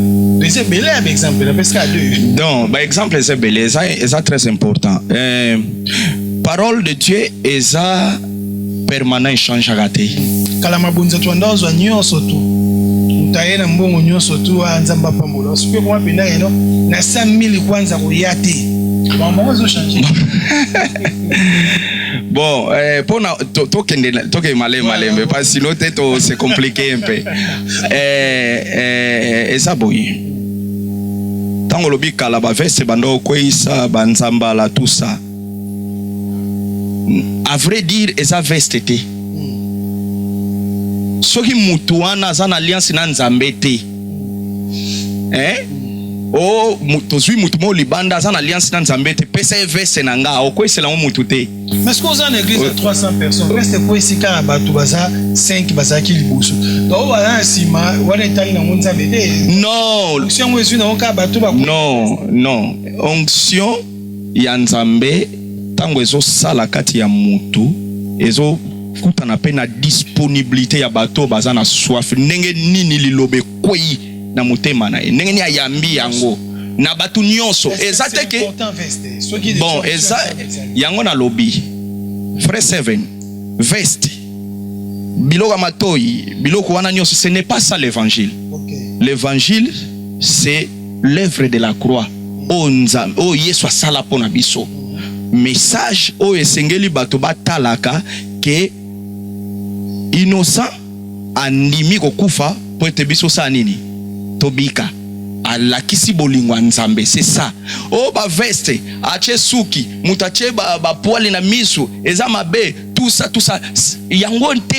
eza ebele ya baexemple napesi kaka deux donc baexemple eza ebele eza, eza très important euh, parole de dieu eza permanent echangeaka te kala mabonza to anda ozwa nyonso tu motaye na mbongo nyonso tu a ah, nzambe apambola soki ekoma mpenda yeno na 5000 kwanza koya te bango ezochange Bon, eh, pona to, to kende to ke male male mais pas sinon te to se compliquer un peu. Eh eh eza boye. Tango lobi kala ba veste bando kweisa ba nzambala tout ça. À vrai dire eza veste te. Soki mutu wana aza na alliance na Nzambe te. eh? Oh, tozwi mutu moko libanda aza na alliance na nzambe te pesa ye veste na nga okwesela yango mutu te mais soki oza na église ya 300 personnes veste ekwesi kaka bato baza 5 bazalaki liboso baoyo baza na nsima wana etali nango nzambe te non onction yango ezwi nango kaka bato non non onction ya Nzambe tango ezo sala kati ya mutu ezo kutana pe na disponibilite ya bato oyo baza na soif. Ndenge nini liloba ekweyi na motema na ye, ndenge nini ayambi yango na bato nyonso. Eza te ke bon, eza yango nalobi frais seven veste biloko ya matoyi biloko wana nyonso, ce n'est pas ça l'evangile. L'evangile c'est l'oeuvre de la croix oyo Nzambe oyo Yesu asala mpo na biso, message oyo esengeli bato batalaka ke innocent andimi kokufa mpo ete biso saa nini tobika alakisi bolingo ya Nzambe c'est ça. Oh ba veste atie suki moto atie ba, ba poil na misu eza mabe tout ça tout ça yango nte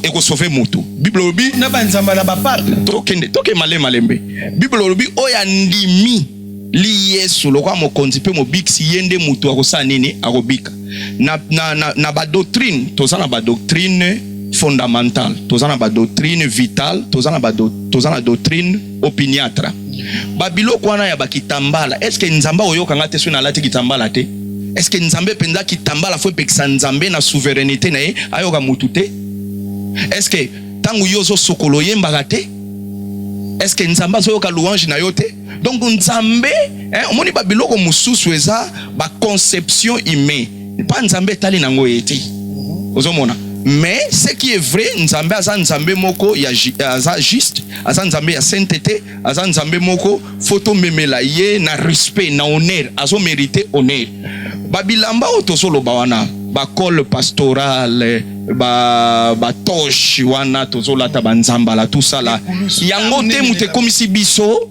ekosove motu bible olobi na banzamba na bapaka tokende toke male malembe bible olobi oyo andimi li yesu lokola mokonzi mpe mobikisi ye nde motu akosala nini akobika na, na, na, na badoctrine toza na badoctrine fondamentale toza na badoctrine vitale toza na, ba, toza na doctrine opiniatre ba biloko wana ya bakitambala eske nzambe akoyoka nga te soki nalati kitambala te eske nzambe mpenza kitambala fo epekisa nzambe na souverainete na ye ayoka motu te eske ntango yo ozosokolo oyembaka te eske nzambe azoyoka louange na yo te donc nzambe omoni ba biloko mosusu eza ba conception humain mpa nzambe etali na ngo ye te ozomona mais ce qui est vrai nzambe aza nzambe moko ya aza juste aza nzambe ya saintete aza nzambe moko fo tomemela ye na respect na honneur azomerite honneur babilamba oyo tozoloba wana bacole pastorale batoche ba wana tozolata banzambala tosala yango te moto ekomisi biso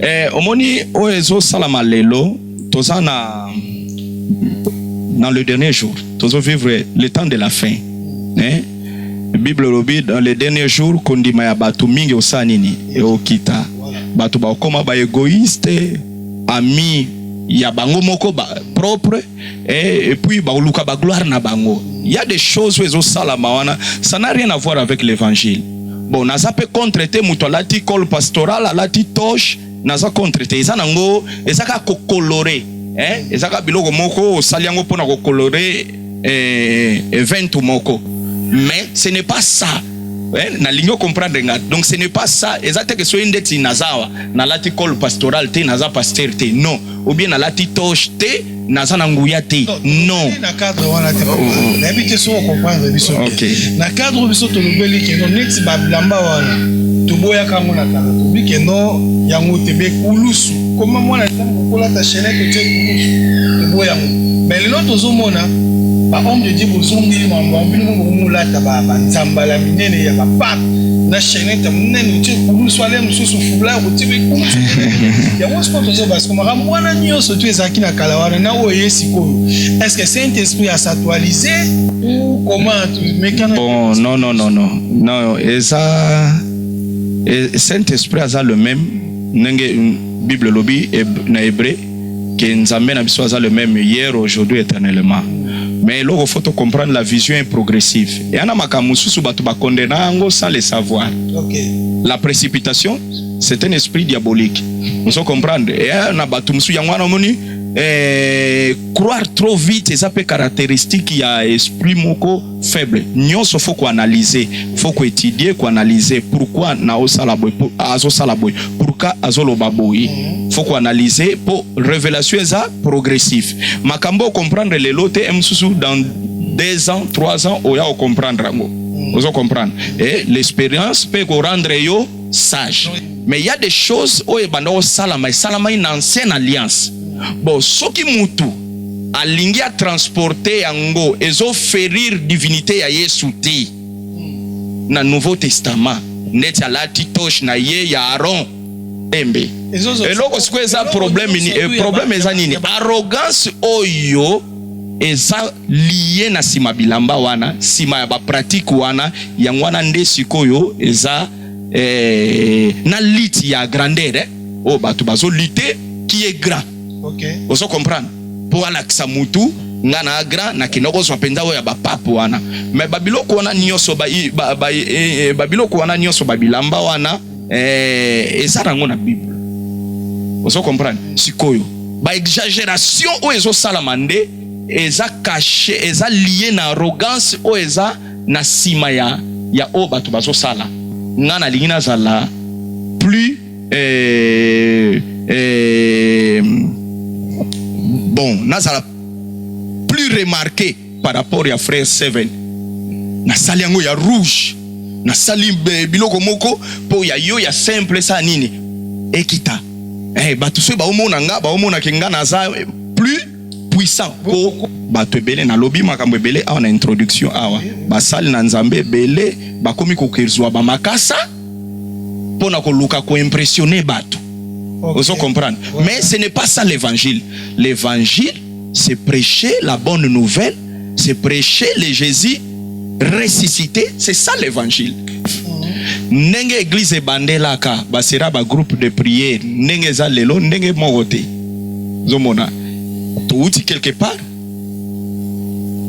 Eh, omoni oyo ezosalama lelo toza na dans le dernier jour tozo vivre le temps de la fin eh? bible elobi dans le dernier jour kondima ya bato mingi osala nini eokita bato bakokoma baegoïste ami ya bango moko ba propre Eh, et puis baoluka ba gloire na bango. Il y a des choses où ezo sala mawana, ça n'a rien à voir avec l'évangile. Bon, naza pe contre te mutu alati col pastoral, alati toche, naza contre te. Eza nango, eza ka ko colorer. Eh, eza ka biloko moko osali yango pona ko colorer eh, event moko. Mais ce n'est pas ça. Eh, nalingi okomprendre nga donc ce n'est pas ça eza te ke soki ndeti nazawa nalati col pastoral te naza pasteur te non ou bien nalati toche te naza na nguya te non na cadre wana te nayebi te soki okomprendre biso na cadre biso tolobeli keno neti babilamba wana toboyaka yango na kala tobi keno yango te bekulusu koma mwana ntango okolata chenete otie kulusu toboya yango mais lelo tozomona bahomme de die bozongeli mambo yango bino moko bokomolata banzambala minene ya bapape na chenete monene otie kulusu ale mosusu Blanc kotimi kuna yango sikoyo tozoba siko makambo wana nyonso tu ezalaki na kala wana na oyo eye sikoyo est ce que saint esprit asactualise ou comment mekana bon non non non non non eza e, saint esprit aza le même ndenge bible elobi na hébreu que Nzambe na biso aza le même hier, aujourd'hui, éternellement. Mais eloko faut comprendre la vision est progressive. Et ana makambo mosusu bato bakondena yango sans le savoir. Okay. La précipitation, c'est un esprit diabolique. Ozo comprendre? Et ana bato mosusu yango wana omoni eh, croire trop vite eza mpe caractéristique ya esprit moko faible nionso faut ko analyser faut ko étudier ko analyser pourquoi na osala boye pour azo sala boye pourquoi azo loba boye faut ko analyser po révélation eza progressif makambo comprendre lelo te msusu dans 2 ans 3 ans oya o comprendre yango ozo comprendre et l'expérience peut ko rendre yo sage mais il y a des choses oyo ebanda osalama esalamai na ancienne alliance bon soki mutu alingi a transporter yango ezo ferir divinite ya Yesu te na Nouveau Testament neti alati toche na ye ya Aaron embe eloko sikoyo eza problème ni eh, problème eza nini arrogance oyo eza liye na sima bilamba wana sima ya pratique wana yango wana nde sikoyo eza eh, na lite ya grandeur eh, oyo bato bazo lite qui est grand okay. ozo comprendre mpo alakisa mutu nga na agra na kenda kozwa mpenza oyo ya bapape wana me babiloko wana nyonso babiloko ba, ba, e, e, wana nyonso babilamba wana e, eza nango na bible ozo comprendre sikoyo baexageration oyo ezosalama nde eza kashe eza lie na arrogance oyo eza na nsima ya ya oyo bato bazosala ngai nalingi nazala plus eh, eh, bon nazala plus remarqué par rapport ya frère seven nasali yango ya rouge nasali eh, biloko moko mpo ya yo ya simple sa nini ekita eh, bato soki baomona nga baomonake nga naza eh, plus puissant mpo bato ebele nalobi makambo ebele awa na introduction awa basali na nzambe ebele bakomi kokezwa bamakasa mpo na koluka koimpressione bato okay. ozo comprendre ouais. mais ce n'est pas ça l'évangile l'évangile c'est prêcher la bonne nouvelle c'est prêcher le jésus ressuscité c'est ça l'évangile ndenge eglize ebandelaka basera bagroupe de prière ndenge eza lelo ndenge moko te ozomona touti quelque part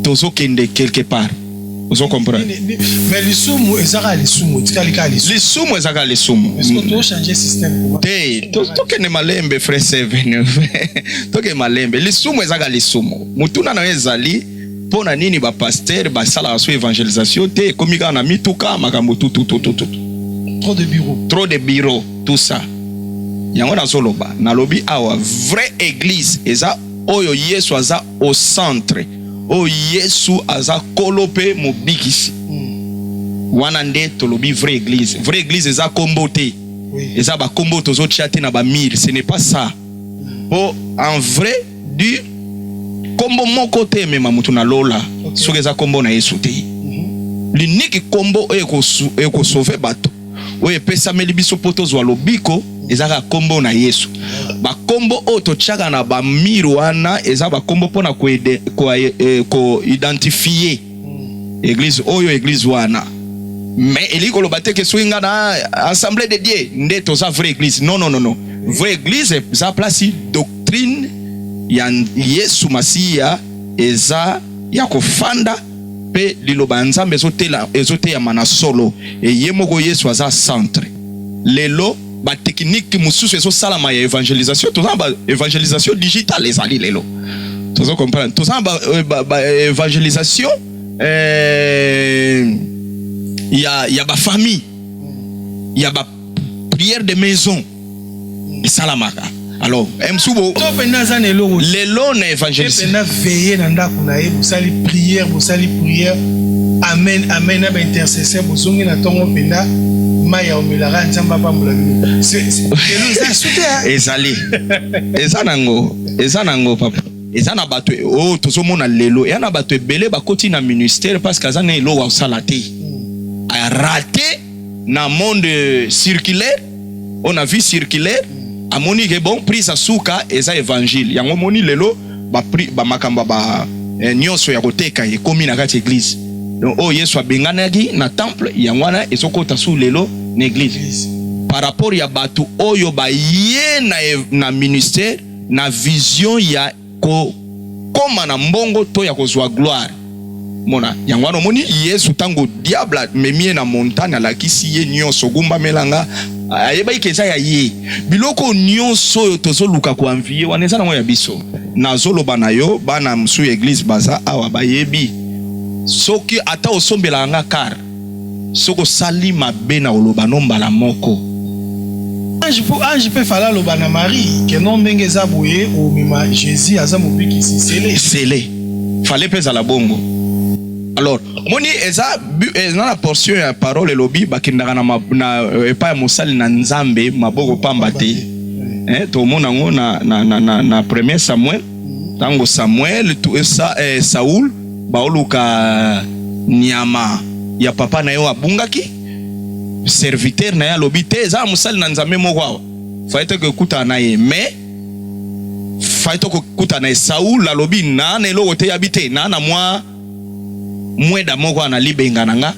tozokende quelque part ozo comprendre mais lisumu ezaka lisumu tikali ka lisumu lisumu ezaka lisumu est-ce que to changer système te tokende malembe frère Seven toke malembe lisumu ezaka lisumu mutuna na ezali mpo na nini ba pasteur basalaka so evangelisation te ekomi kaka na mituka makambo tututututu trop de bureau trop de bureau tout ça yango nazoloba nalobi awa vraie église eza oyo Yesu aza au centre, oyo Yesu aza kolo pe mobikisi. Hmm. Wana nde tolobi vraie église. Vraie église eza kombo te. Oui. Eza ba kombo tozo tia te na ba mille, ce n'est pas ça. Hmm. Po en vrai du kombo moko te emema moto na lola okay. soki eza kombo na Yesu te. Hmm. L'unique kombo oyo ekosauve bato oyo epesameli biso mpo tozwa lobiko eza kaka nkombo na Yesu. Bakombo oyo totyaka na bamire wana eza bakombo mpo na koidentifie eh, eglize oyo eglize wana mais elingi koloba te ke soki nga na assemblée de dieu nde toza vraie église non non non non vraie église eza place doctrine ya yesu masiya eza ya kofanda pe liloba ya Nzambe ezotela ezoteyama na solo et ye moko Yesu aza centre lelo ba technique mususu ezosalama ya evangelisation toza na ba evangelisation digital ezali lelo tozo comprendre toza na ba, euh, ba, ba evangelisation euh, ya ya ba famille ya ba prière de maison esalamaka alors msubo to penda aza na eloko lelo na evangeliste penda veiller na ndako na ye bosali prière bosali prière amen amen na ba intercesseur bozongi na tongo penda mai ya omelaka nzambe apambola bino ezali eza nango eza nango papa eza na bato e- oyo oh, tozomona lelo eza na bato ebele bakoti na ministère parce que aza na eloko asala te hmm. arate na monde circulaire on na vie circulaire amoni ke bon prise ya suka eza evangile yango moni lelo bamakambo ba, ba, ba eh, nyonso ya koteka ekomi na kati eglise donc oyo oh, yesu abenganaki na temple yango wana ezokota su lelo na eglise par rapport ya bato oyo baye na, na ministère na vision ya kokoma na mbongo to ya kozwa gloire. Mona yango wana, omoni Yesu ntango diable amemi ye na montagne, alakisi ye nyonso, gumbamela nga, ayebaki ke eza ya ye. Biloko nyonso oyo tozoluka koanviye wana eza nango ya biso. Nazoloba na yo, bana mosusu ya eglise baza awa bayebi, soki ata osombelaka nga car Soki osali mabe na koloba no mbala moko. Ange po ange pe fala aloba na Marie que non ndenge eza boye omema Jesus aza mobikisi sele. Sele fale pe ezala bongo alors moni eza eza na portion ya parole elobi bakendaka na, na euh, epai ya mosali na Nzambe maboko pamba te eh, tomona yango na, na, na, na, na premier Samuel ntango Samuel to, eh, sa, eh, Saul Baoluka nyama ya papa na ye oyo abungaki. Serviteur na ye alobi te eza ya mosali na Nzambe moko awa. Fallait te kokutana na ye mais fallait to kokutana na ye. Saul alobi na na eloko te yabi te na na mwa mweda moko na libenga na nga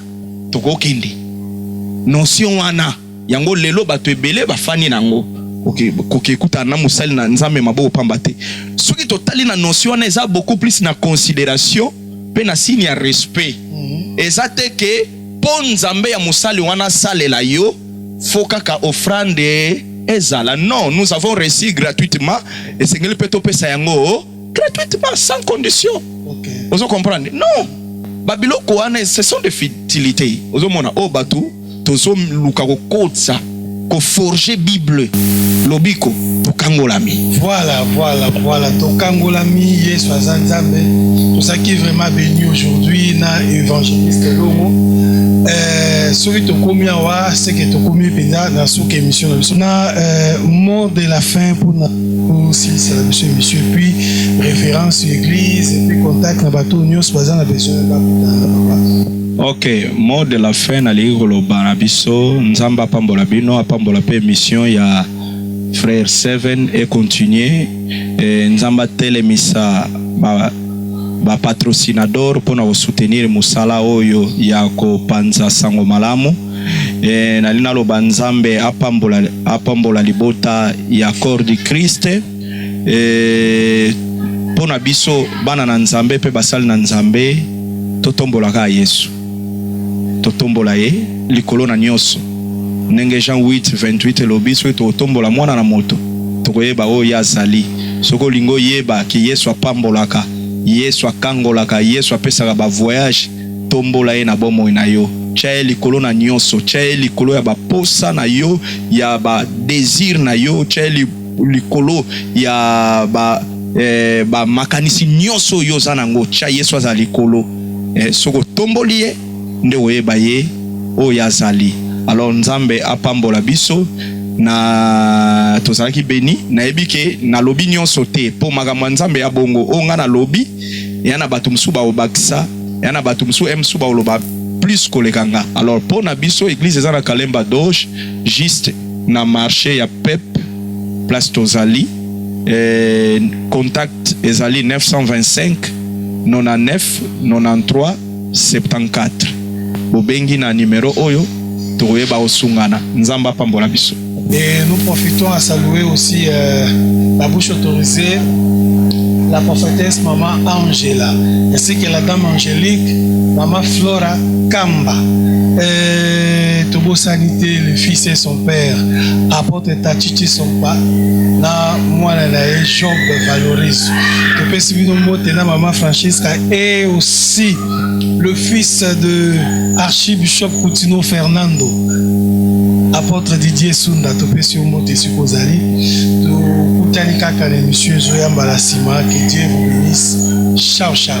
tokokende. Notion wana yango lelo bato ebele bafani na yango koki ekutana na mosali na Nzambe maboko pamba te. Soki totali na notion wana eza beaucoup plus na consideration mpe na signe ya respect. Mhm. Eza te ke mpo Nzambe ya mosali wana asalela yo fo kaka ofrande ezala. Non, nous avons reçu gratuitement, esengeli mpe topesa yango gratuitement sans condition okay. ozo comprendre non babiloko wana ce sont des futilités ozomona oyo oh, bato tozoluka kokotisa koforge bible lobiko tokangolami voilà voilà voilà tokangolami yesu aza nzambe tozalaki vraiment béni aujourd'hui na évangéliste longo euh, soki tokomi awa seke tokomi mpenza na suka émission na biso na euh, mot de la fin mpona osilisa biso emission epuis référence ya église epuis contact na bato nyonso baza na besoin bakutana papa ok mot de la fin nalingi koloba na biso nzambe apambola bino apambola mpe émission ya frère seven e continuer e, nzambe atelemisa ba bapatrocinador mpo na kosoutenir mosala oyo ya kopanza sango malamu e, nali naloba nzambe apambola, apambola libota ya corps du christ e, eh, mpo na biso bana na nzambe mpe basali na nzambe totombolaka yesu totombola ye likolo na nyonso ndenge jean 8 28 elobi soki tokotombola mwana na moto tokoyeba oyo ye azali soki olingi oyeba ke yesu apambolaka yesu akangolaka yesu apesaka bavoyage Tombola ye na bomoi na yo. Tia ye likolo na nyonso. Tia ye likolo ya baposa na yo, ya ba desir na yo. Tia ye likolo ya ba eh, ba makanisi nyonso yo oza nango. Tia Yesu azala likolo. Eh, soki otomboli ye nde oyeba ye oyo azali. Alors Nzambe apambola biso na tozalaki beni. Nayebi ke nalobi nyonso te po makambo ya Nzambe ya bongo oyo nga nalobi ya na bato mosusu bakobakisa ya na bato mosusu eh, mosusu bakoloba plus koleka nga alors mpo na biso eglise eza na kalemba doge juste na marché ya pep place tozali eh, contact ezali 925 99 93 74 bobengi na numero oyo tokoyeba osungana nzambe apambola biso Et nous profitons à saluer aussi euh, la bouche autorisée, la prophétesse Maman Angela, ainsi que la dame angélique, Maman Flora Kamba. Et Tobo Sanité, le fils et son père, apôtre Tachichi Sompa, na mwana na ye Job Valoris. Topesi bino mbote na Maman Francisca et aussi le fils de archibishop Kutino Fernando apôtre Didier Sunda topesi yo mbote esika ozali tokutani kaka na emission ezoya mbala nsima que Dieu vous bénisse ciao ciao